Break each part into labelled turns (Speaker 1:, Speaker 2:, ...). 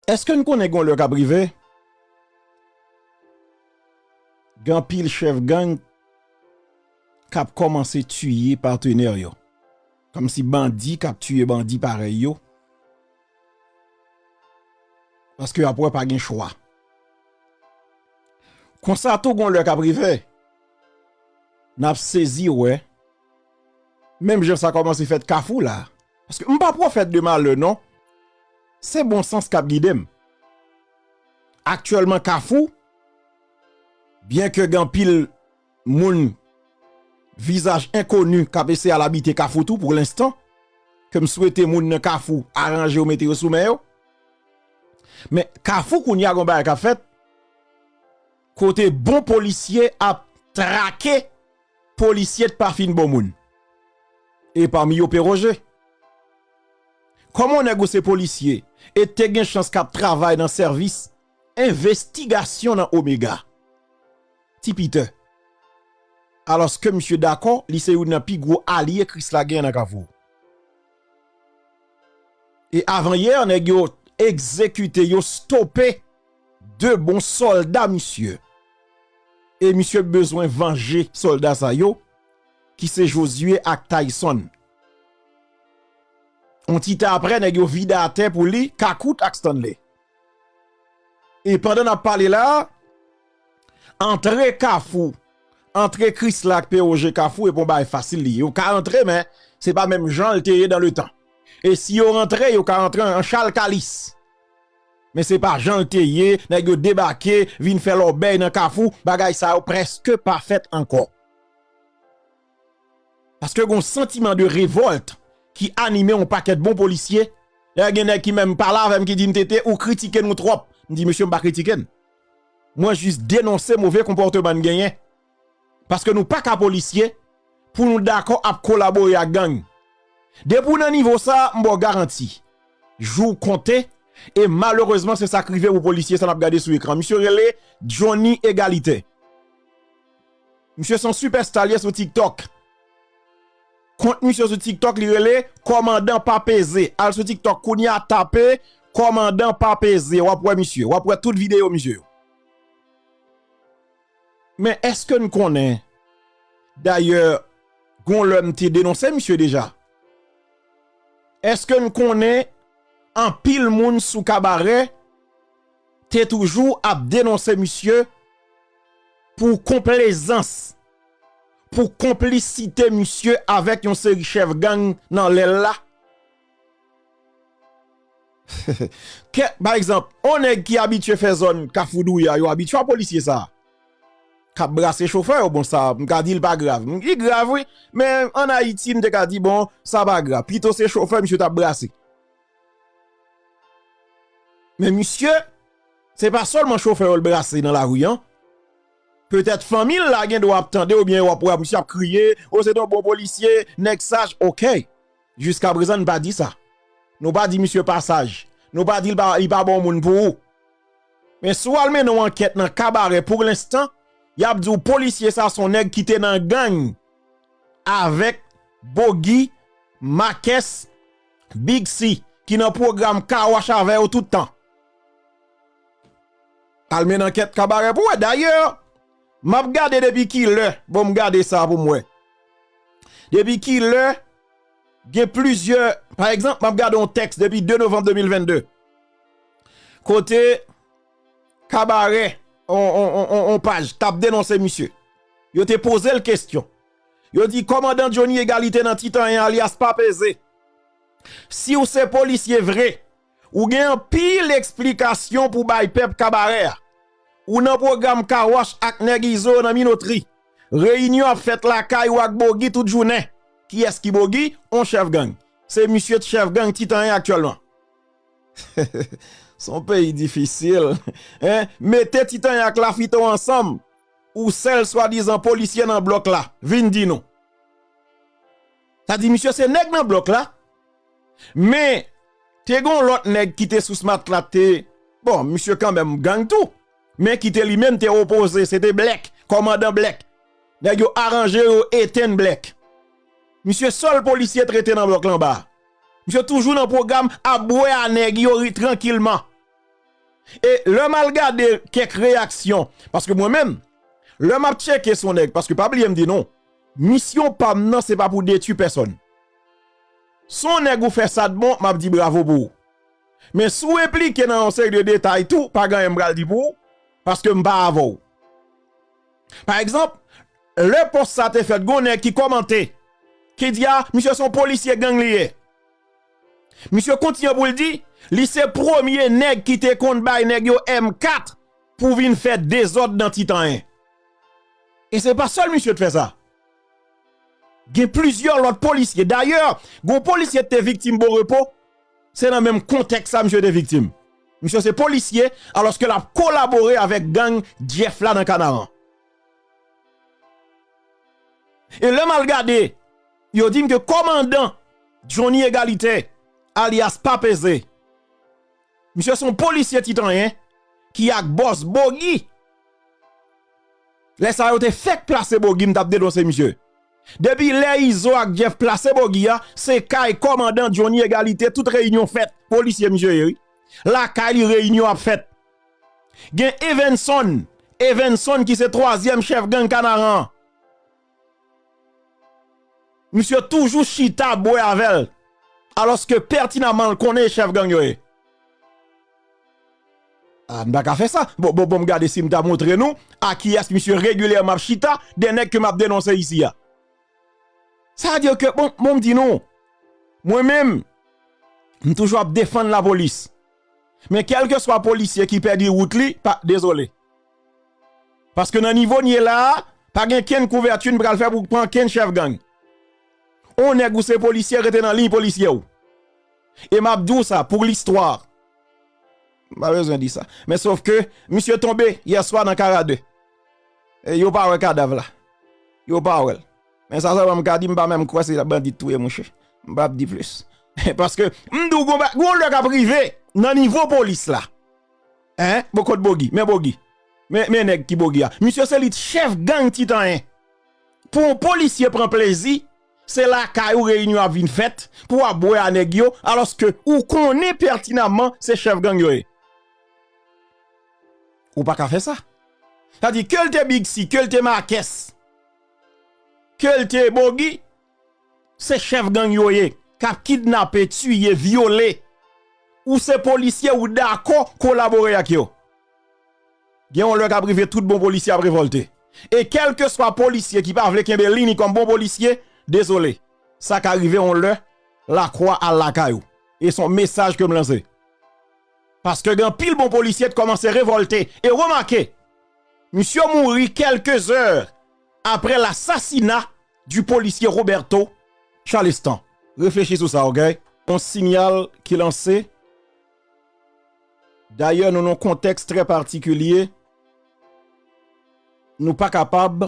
Speaker 1: Eske n konnen gen yon lè k ap rive gen anpil chèf gang k ap kòmanse tiye patenè yo kòmsi bandi k ap tiye bandi parèy yo paske y ap wè pa gen chwa konsa tou gen yon lè k ap rive n ap sezi wè menm jan sa kòmanse fèt kafou la. Paske m pa pwofèt de malè non. Se bon sans k ap gide m. Aktyèlman Kafou, byen ke gen anpil moun vizaj enkoni k ap eseye al abite Kafou tou pou lenstan, ke m swete moun nan Kafou aranje yo mete yo sou men yo. Men Kafou kounye a gen yon bagay k ap fèt. Kote bon polisye ap trake polisye t pa fin bon moun. E pami yo peroje. Koman nèg ou se polisye e te gen chans kap travay nan sèvis envestigasyon nan omega. Ti piter. Aloske misye dako li se youn nan pi gwo alye krisla gen nan kafou. E avan yè nèg yo egzekite yo stope 2 bon solda misye. E misye bezwen vanje solda sa yo ki se Josué ak Tayson. On ti tan aprè nèg yo vide atè pou li Kakout ak Stanley. E pandan nap pale la, antre kafou, antre krisla ak pewoje kafou e pon bagay fasil li. Yo ka antre men, se pa menm jan l te ye dan le tan. E si yo antre, yo ka antre an chal kalis. Men se pa jan l te ye, nèg yo debake, vin fè lòbèy nan kafou, bagay sa yo preske pa fèt ankò. Paske gon santiman de revolt ki anime yon pakèt bon polisye, dayè gen nèg ki menm pale avèm ki dim TT ou kritike nou twòp, m di mesye m pa kritike n, mwen jis denonse move konpòteman n genyen, paske nou paka polisye pou nou dakò ap kolabore ak gang. Depi w nan nivo sa m ba w garanti, jou w konte, e malerezman se sa k rive pou polisye sa n ap gade sou ekran, misye rele Johnny Egalité. Misye son super star li ye sou tiktok. Kont misye sou tiktok li rele komandan pa peze. Al sou tiktok kounya tape komandan pa peze wap wè misye. Wap wè tout video misye yo. Men eske n konnen dayè gon lè m te denonse misye deja. Eske n konnen anpil moun sou kabarè. te toujou ap denonse misye pou konplezans, pou konplisite misye avèk yon seri chèf gang nan lè l la. Kè, pa egzanp, yon nèg ki abitye fè zòn Kafou Douya yo abitye wè polisye sa a k ap brase chofè yo. Bon, sa a, m ka di l pa grav. Li grav wi, men ann Ayiti, m te ka di bon, sa pa grav. Pito se chofè misye t ap brase. Men misye, se pa sèlman chofè yo l brase nan lari an, petèt fanmi l la gendwa ap tande oubyen yo ap wè misye ap kriye, o se te yon bon polisye, nèg saj, ok, jiskaprezan n pa di sa, nou pa di misye pa saj, nou pa di li pa bon moun pou ou, men si w al mennen yon ankèt nan kabarè pou lenstan, y ap di w polisye sa se yon nèg ki te nan gang avèk Bogi, Makès. Big si ki nan program car wash avew tout tan. Al men nan ket kabare pou we dayè map gade depi kilè bon m gade sa pou m we depi kilè gen plizyè pa egzanp map gade yon teks depi 2 novanm 2022 kote kabare on paj tap denonse misye yo te poze l kestyon. Yo di kòmandan Johnny Egalite nan Titan 1 alyas pa peze. Siw se polisye vre, ou gen anpil eksplikasyon pou bay pèp kabarè a. Ou nan pwogram car wash ak nèg izo yo nan minotri. Reyinyon ap fèt lakay ou ak Bogi tout jounen. Kiyès ki Bogi? On chèf gang. Se misye t chèf gang Titan 1 aktyèlman. Son peyi difisil. Mete Titan 1 ak Lafito ansanm. ou sèl swadizan polisye nan blòk la, vin di nou. Sa di misye se nèg nan blòk la, men te gon lòt nèg ki te sou smat la te, bon misye kanmenm gang tou, men ki te li menm te opoze, se te Blèk, kòmandan Blèk. Nèg yo aranje yo etenn Blèk. Misye sèl polisye trete nan blòk la anba a. Misye toujou nan pwogram ap bwè a nèg yo trankilman. E lè m al gade kèk reyaksyon, paske mwen menm, lè m ap tcheke s on nèg, paske pa bliye m di nou, misyon pa m nan se pa pou detui pèsòn. S on nèg ou fè sa t bon, m ap di bravo pou ou. Men si w enplike nan yon seri de detay tou, pa gen anyen m pral di pou ou, paske m pa avè w. Pa egzanp, lè pòs sa te fèt, gen yon nèg ki kòmante, ki di a, misye s on polisye gang li ye. Misye kontinye pou l di, li se premye nèg ki te konn bay nèg yo M4 pou vin fè dezòd nan Titan 1. E se pa sèl misye te fè sa. Gen plizyè lòt polisye. Dayè, gon polisye te viktim Borepo, se nan menm kontèks sa misye te viktim. Misye se polisye, alòske l ap kolabore avèk gang Jeff la nan Kanaran. E lè m al gade. yo di m ke kòmandan Jhonny Egalité alyas Pa Peze, misye se yon polisye titanyen ki ak bòs Bogi, lè sa yo te fèk plase Bogi m t ap denonse misye. Depi lè Izo ak Jeff plase Bogi a, se kay kòmandan Jhonny Egalité tout reyinyon fèt, polisye misye ye wi, lakay li reyinyon ap fèt. Gen Evenson, Evenson ki se twazyèm chèf gang Kanaran an. Misye toujou chita bwe avèl aloske pètinamman l konnen e chèf gang yo ye. Ah m paka fè sa. Bon bon bon m gade si m ta montre nou a kiyès misye regilyèman ap chita de nèg ke m ap denonse isi a. Sa vle di ke bon bon m di nou mwen menm m toujou ap defann lapolis men kelkeswa polisye ki pèdi wout li pa dezole. Paske nan nivo n ye la a, pa gen kenn kouvèti n pral fè pou pran kenn chèf gang. On nèg ou se polisye rete nan liy polisye w. E m ap di w sa pou listwa. M pa bezwen di sa. Men sof ke misye tonbe yè swa nan Kara 2. E yo pa wè kadav la. Yo pa wè l. Men sa sèlman m ka di, m pa menm kwè se bandi t touye mouche. M pa ap di plis. Paske m di w gon lè k ap rive nan nivo polis la. Hein bon kot bogi men bogi men nèg ki bogi a misye se li t chèf gang titan 1 pou yon polisye pran plezi se lakay ou reyinyon ap vin fèt pou wap bwè a nèg yo alòske ou konnen pètinamman se chèf gang yo ye ou paka fè sa sa di kel te bigsi kel te makès kel te bogi. se chef gang yo ye kap kidnape tiye vyole ou se polisye ou dakò kolabore ak yo gen yon lè kap rive tout bon polisye ap revolte e kelkeswa polisye ki pa vle kenbe liy ni kòm bon polisye dezole sa ka rive yon lè lakwa al lakay ou e son mesaj kem lanse paske gen anpil bon polisye t kòmanse revolte e remake misye mouri kelke zè apre lasasina du policier Roberto Chalestin. Reflechi sou sa ok. On sinyal ki lanse, dayè nou nan yon kontèks trè patikilye, nou pa kapab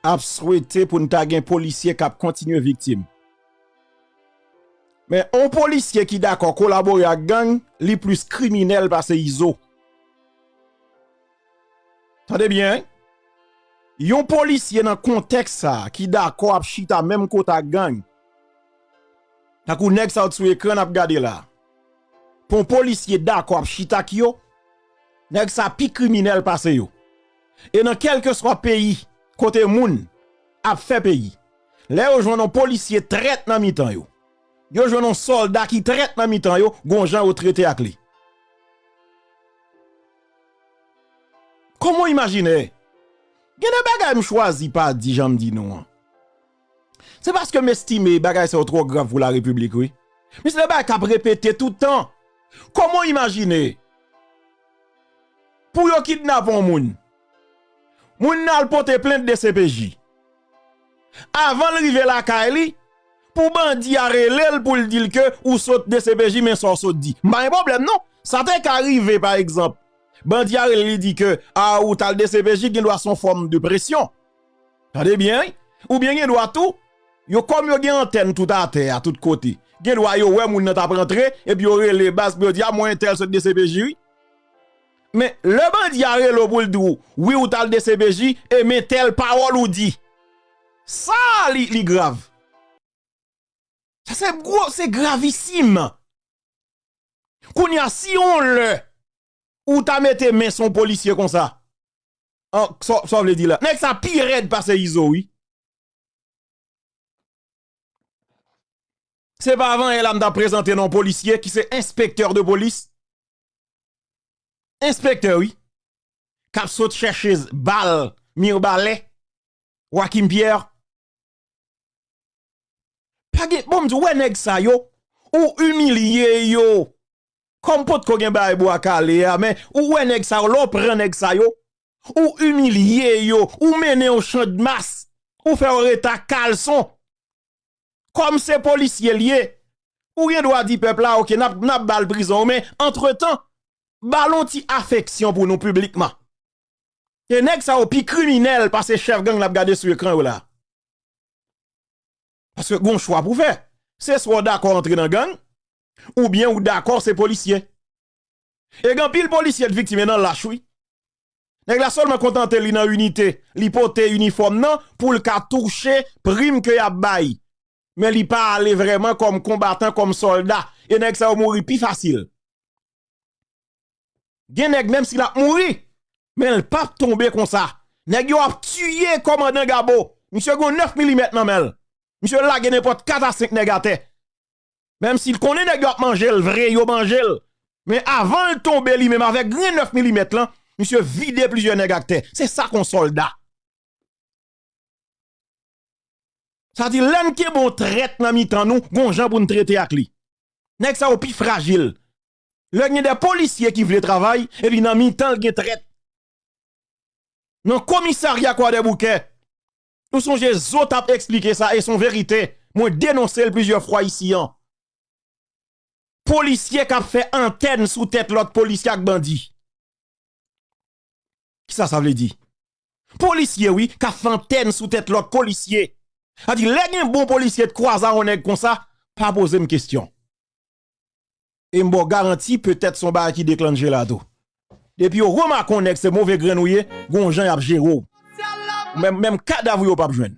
Speaker 1: ap swete pou n ta gen polisye k ap kontinye viktim. Men on polisye ki dakò kolabore ak gang, li plis kriminèl pase Izo. Tande byen, yon polisye nan kontèks sa a ki dakò ap chita menm kote ak gang, tankou nèg sa yo sou ekran n ap gade la, yon polisye dakò ap chita ak yo, nèg sa pi kriminèl pase yo. E nan kèlkeswa peyi kote moun ap fè peyi, lè yo jwenn yon polisye trèt nan mitan yo, yo jwenn yon sòlda ki trèt nan mitan yo, gon jan yo trete ak li. Kòman w imajine? Gen de bagay m chwazi pa di jan m di nou an. Se paske m estime bagay sa yo twò grav pou Larepiblik wi. Men se de bagay k ap repete tout tan. Kòman w imajine pou yo kidnape yon moun, moun nan al pote plent dcpj, avan l rive lakay li, Pou bandi a relel poul dil ke ou sot dcpj men sa w sot di. M pa gen pwoblèm non. Sa te ka rive pa egzanp bandi a rele li di ke a ou tal dcpj gen dwa son fòm de presyon. Tande byen wi. Ou byen gen dwa tou yo kòm yo gen antèn tout atè a tout kote gen dwa yo wè moun nan tap rantre epi yo rele baz pou yo di a mwen entèl sot dcpj wi. Men lè bandi a rele w pou l di w wi ou t al dcpj e men tèl pawòl ou di. Sa a li grav. Sa se gwo, se gravisim. Kounye a si yon lè ou ta mete men sou yon polisye konsa, sa w vle di la. Nèg sa pi rèd pase Izo wi. Se pa avan yè la m ta prezante non polisye ki se enspektè de polis. Enspektè wi kap sot chèche bal mirbalè Joachim Pierre pa gen bon m di w wè nèg sa yo ou imilye yo kòm potko gen bagay bwa kale a men ou wè nèg sa yo lè w pran nèg sa yo ou imilye yo ou mennen yo chandmas ou fè yo rete a kalson. Kòm se polisye l ye, ou gen dwa di pèp la ok n ap ba l prizon men antretan ba l yon ti afeksyon pou nou piblikman. E nèg sa yo pi kriminèl pase chèf gang n ap gade sou ekran yo la. Paske gon chwa pou fè. Se swa w dakò antre nan gang oubyen ou dakò se polisye. E gen anpil polisye t viktim e nan lach wi. Nèg la sèlman kontante li nan inite, li pote inifòm nan poul ka touche prim ke yap bay. Men li pa ale vrèman kòm konbatan, kòm sòlda. E nèg sa yo mouri pi fasil. Gen nèg menm si lap mouri, men l pap tonbe konsa. Nèg yo ap tiye kòmandan Gabo. Misye gon 9 milimèt nan menl. Misye lage nenpòt 4 a 5 nèg atè. Menm si l konnen nèg yo ap manje l vre, yo manje l. Men avan l tonbe li menm avèk grenn 9 milimèt lan, misye vide plizyè nèg ak tè. Se sa kon sòlda. Sa di lè n kenbe yon trèt nan mitan nou, gon jan pou n trete ak li. Nèg sa yo pi frajil. Lè gen de polisye ki vle travay, epi nan mitan l gen trèt. Nan komisarya kwadèboukè, Ou sonje zo tap esplike sa e son verite mwen denonse l plizyè fwa isi an. Polisye kap fè antèn sou tèt lòt polisye ak bandi. Kisa sa vle di? Polisye wi kap fè antèn sou tèt lòt polisye. Sa vle di lè gen bon polisye t kwaze a yon nèg konsa pa poze m kesyon. e m ba w garanti petèt se yon bagay ki deklannje la tou. Depi yo remake yon nèg se move grenn ou ye, gen yon jan y ap jere w. Menm kadav ou yo pa p jwenn.